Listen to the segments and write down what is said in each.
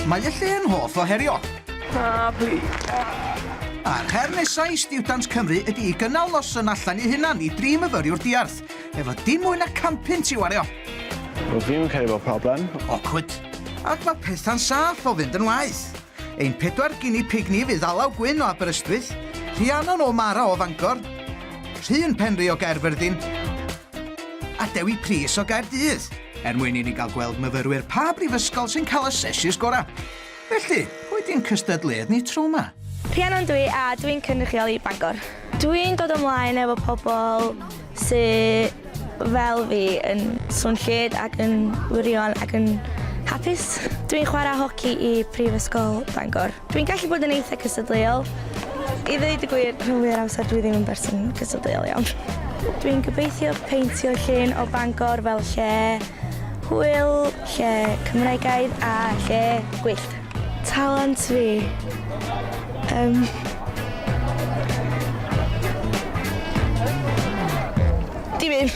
Mae y lle yn hoff o herio. Ah, please. A'r her nesaf i Stiwdant Cymru ydy i gynnal noson allan i hunan i dri myfyriwr diarth, efo dim mwy na campyn ti wario. Rwyf fi'n credu bod problem. Awkward. Ac mae pethau'n saff o fynd yn waith. Ein pedwar gini pig ni fydd Alaw Gwyn o Aberystwyth, Rhiannon O'Mara o Fangor, Rhun Penri o Gaerfyrddin a Dewi Prys o Gaerdydd. Er mwyn i ni gael gweld myfyrwyr pa brifysgol sy'n cael y seshis gorau. Felly, pwy di'n cystadleuadd ni tro 'ma? Rhiannon dwi a dwi'n cynrychioli Bangor. Dwi'n dod ymlaen efo pobl sy fel fi yn swnllyd ac yn wirion ac yn hapus. Dwi'n chwarae hoci i Prifysgol Bangor. Dwi'n gallu bod yn eitha cystadleuol. I ddweud y gwir, rhan fwya'r amser dwi ddim yn berson cystadleuol iawn. Dwi'n gobeithio peintio llun o Bangor fel lle hwyl, lle Cymreigaidd a lle gwyllt. Talent fi? Yym... Dim un.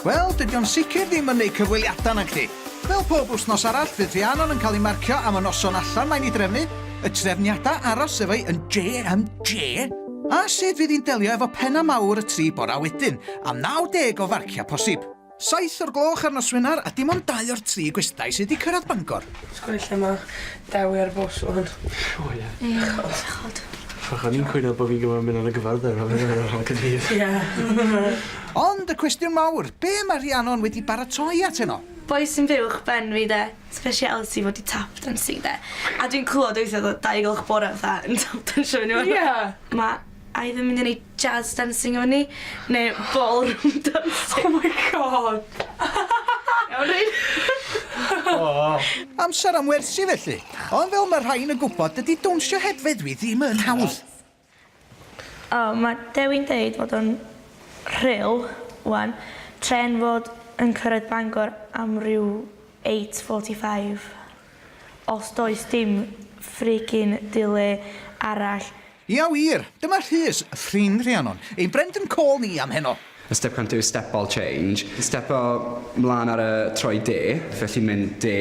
Wel, dydy o'n sicr ddim yn neud cyfweliadau nagdi? Fel pob wsnos arall, fydd Rhiannon yn cael ei marcio am y noson allan mae'n ei drefnu, y trefniadau aros efo'i yn JMJ, a sut fydd hi'n delio efo pennau mawr y tri bora wedyn, a 90 o farciau posib. Saith o'r gloch ar nos Wener a dim ond dau o'r tri gwestai sydd wedi cyrraedd Bangor. Ti'n gwybod lle mae Dewi ar y bws ŵan? O ie. Bechod. Ffwc, o'n i'n cwyno bod fi'n gorfod mynd ar y gyfarddeb a mynd ar yr Hogg yn rhydd. Ie. Ond y cwestiwn mawr, be mae Rhiannon wedi baratoi at heno? Boi sy'n byw uwch ben fi de. Spesh i Elsie fod 'di tap dancing 'de. A dwi'n clywed weithia' fatha dau o'r gloch bore fatha yn tap dansio fyny fan 'na. Ie. Ma' A i fi mynd i neud jazz dancing efo ni neu ballroom dancing. Oh my God! Iawn rei- O! Amser am wersi felly. Ond fel ma' rhai yn y gwbod dydi dawnsio heb feddwi ddim yn hawdd. O ma' Dewi'n deud fod o'n rhyl ŵan, trên fod yn cyrraedd Bangor am ryw eight forty five os does dim frigyn delay arall. Ia wir! Dyma Rhys, ffrind Rhiannon. Ein Brendan Cole ni am heno! Y step cyntaf yw step ball change, stepo 'mlaen ar y troi de, felly mynd de,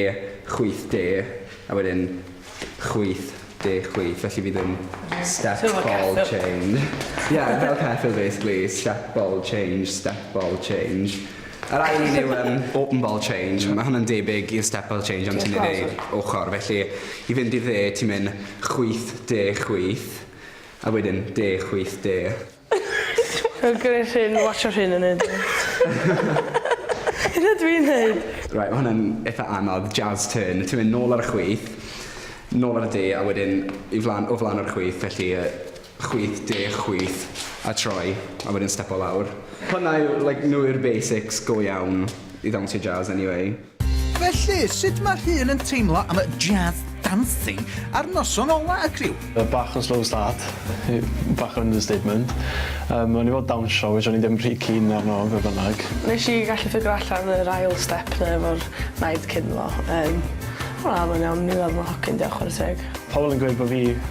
chwith, de, a wedyn chwith, de, chwith, felly fydd yn step ball change. Ie, fel ceffyl basically, step ball change, step ball change. Yr ail un yw yym open ball change. Ma' hwn yn debyg i'r step ball change ond ti'n neud e i ochor. Felly i fynd i'r dde ti'n myn' chwith de chwith a wedyn de chwith de. Wel gennych chi'n watsio rhywun yn neud e. Hynna dwi'n neud. Reit ma' hwn yn itha anodd. Jazz turn. Ti'n myn' nôl ar y chwith nôl ar y de a wedyn i flan o flan ar y chwith felly yy chwith de chwith a troi a wedyn stepo lawr. Hwnna yw like nhw yw'r basics go iawn i ddawnsio jazz anyway. Felly, sut mae Rhun yn teimlo am y Jazz Dancing ar noson ola y criw? Bach o slow start, bach o understatement. Yym o'n i fel dawnsio which o'n i ddim rhy keen arno be bynnag. Nesh i gallu ffigro allan yr ail step ne efo'r naid cyn fo yym o na mae'n iawn o'n i fel yn hocin diolch chwara teg. Pobl yn gweud bo fi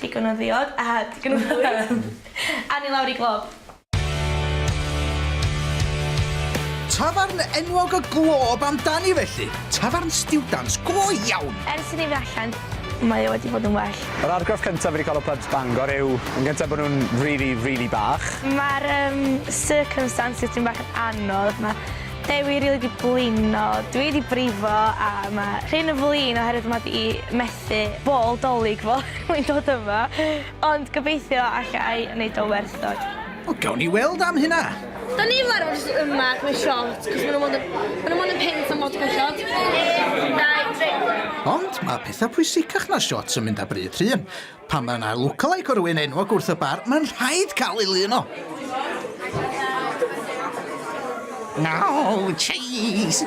Digon o ddiod a digon o fwyd. Awn ni lawr i Glob. Tafarn enwog y Glob amdani felly! Tafarn stiwdants go iawn! Ers i ni fynd allan, mae o wedi bod yn well. Yr argraff cyntaf fi 'di cael o Pubs Bangor yw, yn gyntaf bod nhw'n rili, rili bach. Mae'r yym circumstances tipyn bach yn anodd, mae Dewi rili 'di blino, dwi 'di brifo a mae Rhun yn flin oherwydd mae 'di methu methu bol 'Dolig fo mwyn dod yma, ond gobeithio allai wneud o werthod. Wel gawn ni weld am hynna! Da ni'n arfer jyst dod yma ac wneud siorts achos maen nhw mond yn maen nhw mond yn punt am vodka shots. Ie, da i dringo. Ond mae pethau pwysicach na shots yn mynd â bryd rhun. Pan mae yna lookalike o rywun enwog wrth y bar, mae'n rhaid cael ei lun o. No chase!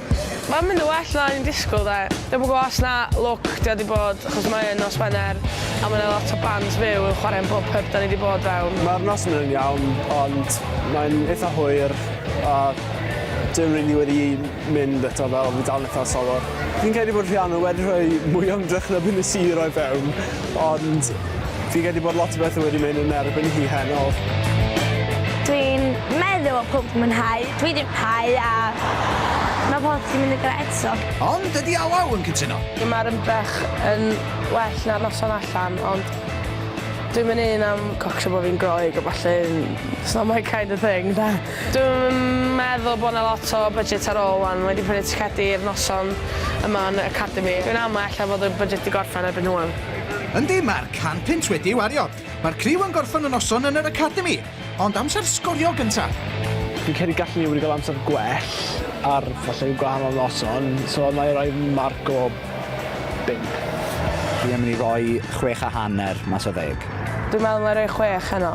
Mae'n mynd yn well na o'n i'n disgwyl 'de. Dwi'm yn gwybod os 'na lwc 'di o 'di bod achos mae yn nos Wener a mae 'na lot o bands byw yn chwarae yn bob pyb 'dan ni 'di bod fewn. Mae'r nos yn mynd yn iawn ond mae'n eitha hwyr a dwi ddim rili wedi mynd eto fel fi dal yn eitha sour. Fi'n credu bod Rhiannon wedi rhoi mwy o ymdrech na be nes i roi fewn. Ond fi credu bod lot o bethe wedi mynd yn erbyn hi heno. Dwi'n meddwl bod pawb 'di mwynhau, dwi 'di mwynhau a ma' pawb 'di mynd yn grêt so. Ond dydi Alaw yn cytuno. Ie ma'r ymdrech yn well na'r noson allan ond dwi'm yn un am cocsio bo' fi'n Groeg a ballu, it's not my kind of thing 'de? Dwi'm yn meddwl bod 'na lot o budget ar ôl 'wan, wedi prynu ticedi i'r noson yma yn y Academi. Dwi'n ama ella fod y budget 'di gorffen erbyn hwn. Yndi, mae'r can punt wedi ei wario. Mae'r criw yn gorffen y noson yn yr Academi, ond amser sgorio gyntaf. Fi'n credu gallen ni wedi cael amser gwell ar falle gwahanol noson, so wna i roi marc o Binc. Fi am mynd i roi chwech a hanner mas o ddeg. Dwi'n meddwl mae rhoi chwech heno.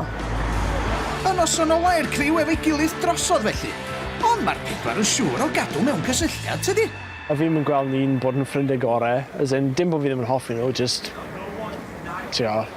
Y noson olau'r criw efo'i gilydd drosodd felly, ond mae'r pedwar yn siŵr o gadw mewn cysylltiad, tydi? A fi'm yn gweld ni'n bod yn ffrindie gore, as in dim bo fi ddim yn hoffi nhw, jyst, ti'o'.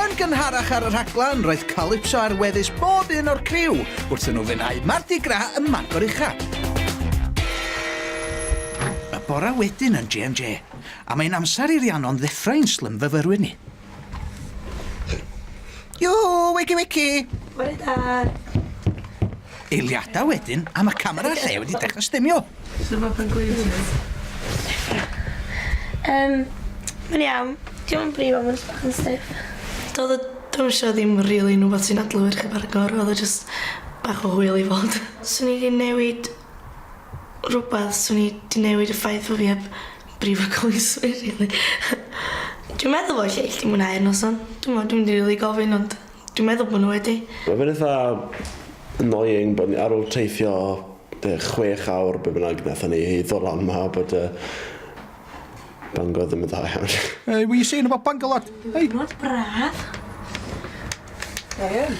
Yn gynharach ar y rhaglen, roedd calypso ar weddill bob un o'r criw wrth i nhw fwynhau Mardi Gras ym Mangor Uchaf. Y bore wedyn yn JMJ, a mae'n amser i Rhiannon ddeffro i'n slymfyfyrwyr ni. Yoo, wakey wakey! Bore da! Eiliadau wedyn, a mae camera lle wedi dechrau stumio. Sut mae penglinia'n Yym, mae'n iawn. Di o'm yn brifo, mae'n jyst bach yn stiff. Do'dd y dawnsio ddim rili'n wbath sy'n adlewyrchu dy agor, o'dd o jyst bach o hwyl i fod. Swn i 'di newid rwbath, swn i 'di newid y ffaith bo' fi heb brifo coesau rili. Dwi'n meddwl bo' lle i chdi mwynhau'r noson. Dwi'm yn gwbo, dwi'm 'di rili gofyn ond Dwi'n meddwl bod nhw wedi. Mae fe'n eitha annoying bod ni ar ôl teithio yy chwech awr be' bynnag nathon ni i ddod lan 'ma bod yy Bangor ddim yn dda iawn. Hey were you saying about Bangor lad? Hey! Diwrnod braf. Da iawn.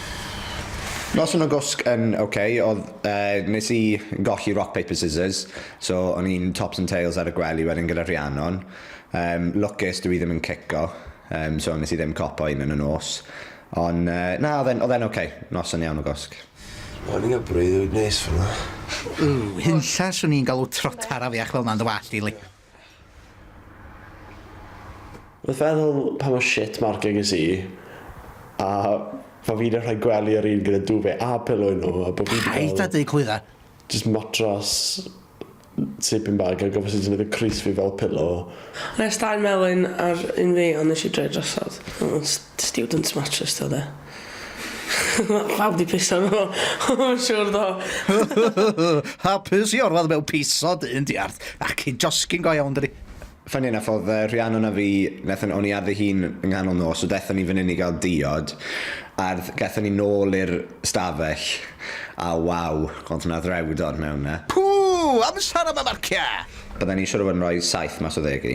Noson o gwsg yn ok odd yy nes i golli rock paper scissors so o'n i'n tops and tails ar y gwely wedyn gyda Rhiannon yym lwcus dyw 'i ddim yn cico. Yym so nes i ddim copo un yn y nos. On yy na odd e'n odd e'n ok. Noson iawn o gwsg. O'n i'n ga'l breuddwyd neis fan 'na. Ww, hunlla swn i'n galw trotar afiach fel 'na'n dy wallt di, Lee. Wrth feddwl pa mor shit ma'r gig es i, a bo fi 'di rhoi gwely yr un gyda duvet a pillow i nhw a bo fi 'di ga'l... Paid a deud clwydda! ...jyst matras Tipyn bag a gofio sut i wneud y crys fi fel pillow. Rhes dau melyn ar un fi ond nes i droi drosodd. Students mattress ti o de? Pawb di piso arno fo. O'm yn siŵr ddo. Hapus i orwedd mewn piso dyn diarth. Naci, joscyn go iawn dydi? Funny enough odd yy Rhiannon a fi nethon o'n i ar ddy' hun yng nghanol nos so dethon ni fyn 'yn i ga'l diod a th- gethon ni nôl i'r stafell a waw odd 'na ddrewdod mewn 'na. Pŵ! Amser am y marcia! Bydden i'n siŵr o fod yn rhoi saith mas o ddeg i.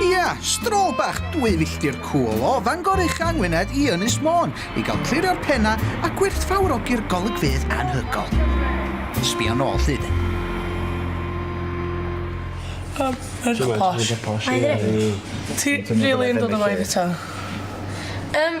Ia, stroll bach dwy filltir cŵl o Fangor Ucha yng Ngwynedd i Ynys Môn i gael clirio'r pennau a gwerthfawrogi'r golygfeydd anhygoel. Sbia nôl 'lly de. Mae hi'n eitha posh. Ti rili yn dod o flaen fi 'to. Yym.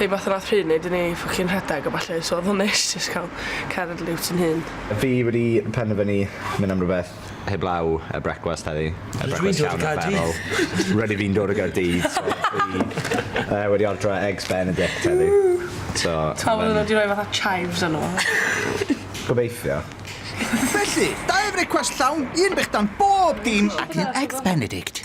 ddim fatha nath rhun neud i ni ffycin rhedeg a ballu so odd o'n neis jyst ca'l cer ar liwt yn hun. Fi wedi penderfynu myn am rwbeth heblaw y brecwast heddi. Y brecwast llawn arferol. Rydw i'n dod o Gaerdydd so fi yy wedi ordro eggs benedict heddi. So T'mod ma' nw di roi fatha chives arno fo. Gobeithio. Felly, dau frecwast llawn, un bychan bob dim ac un eggs benedict.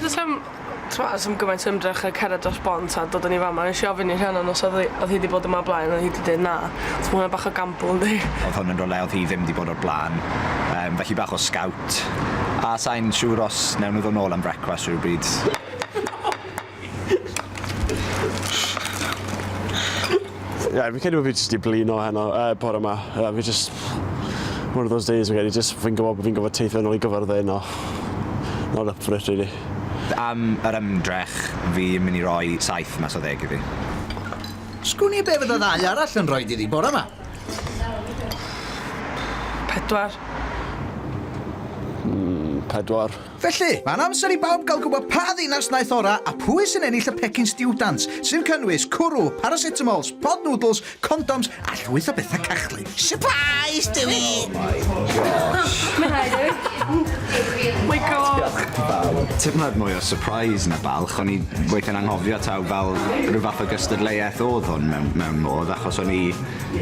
Does dim t'mo' o's dim gymaint o ymdrech a cered dros bont a dod â ni fama nesh i ofyn i Rhiannon os odd 'i odd hi 'di bod yma o blaen a hi 'di deud na so ma' hwnna bach o gamble yndi? Odd hwn yn rywle odd hi ddim 'di bod o'r bla'n yym felly bach o scout a sai'n siŵr os newn nw ddo' nôl am frecwast rywbryd. Ie, yeah, fi'n credu bod fi jyst i blino heno, uh, bore yma. Yeah, fi jyst... One of those days, fi'n credu, jyst fi'n gwybod bod fi'n gofod teithio yn ôl i gyfyrddau yno. Not up for it, really. Am yr ymdrech, fi'n mynd i roi saith mas o ddeg i fi. Sgwn i be fydda ddau arall yn rhoi di fi bore yma. Pedwar. Mm, pedwar. Felly, mae'n amser i bawb gael gwybod pa ddinas wnaeth orau a pwy sy'n ennill y pecyn stiwdant, sy'n cynnwys cwrw, parasetamols, pod noodles, condoms a llwyth o bethau cachlyd. Surprise, Dewi! Oh my gosh! Mae'n rhaid, Dewi. Oh my gosh! Teimlad mwy o surprise na balch, o'n i weithiau'n anghofio taw fel rhyw fath o gystadleuaeth oedd hwn mewn, mewn modd, achos o'n i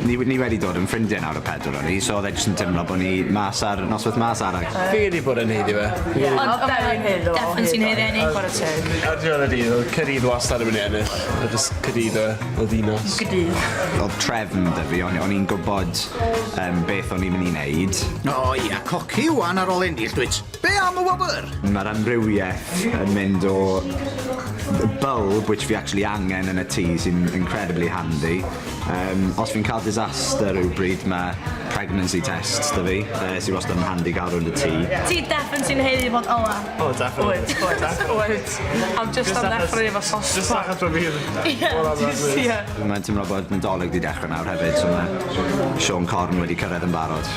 Ni ni wedi dod yn ffrindie nawr y pedwar o ni so odd e jyst yn timlo bo' ni mas ar nosweth mas arall. Fi wedi bod yn haeddu fe. Ie. Ond fel fi'n meddwl. Steffan sy'n haeddu ennill. Chware teg. Ar diwedd y dydd odd Caerdydd wastad yn myn' i ennill o' jyst Caerdydd yy fel dinas. Caerdydd. Odd trefn 'dy fi o'n i o'n i'n gwbod yym beth o'n i myn' i neud. O ia coci ŵan ar ôl ennill dwyt? Be am y wobr? Mae'r amrywiaeth yn mynd o bulb which fi actually angen yn y tŷ sy'n incredibly handy um, os fi'n cael disaster rhywbryd mae pregnancy tests da fi uh, sy'n wastad yn handy gael rhwng y tŷ. Ti defn sy'n heiddi fod ola. O, defn. Oed, oed, oed. Am just am ddechrau efo sos. Just achos bod fi'n... Ie, Mae'n teimlo bod Nadolig wedi dechrau nawr hefyd, so mae Sean Corn wedi cyrraedd yn barod.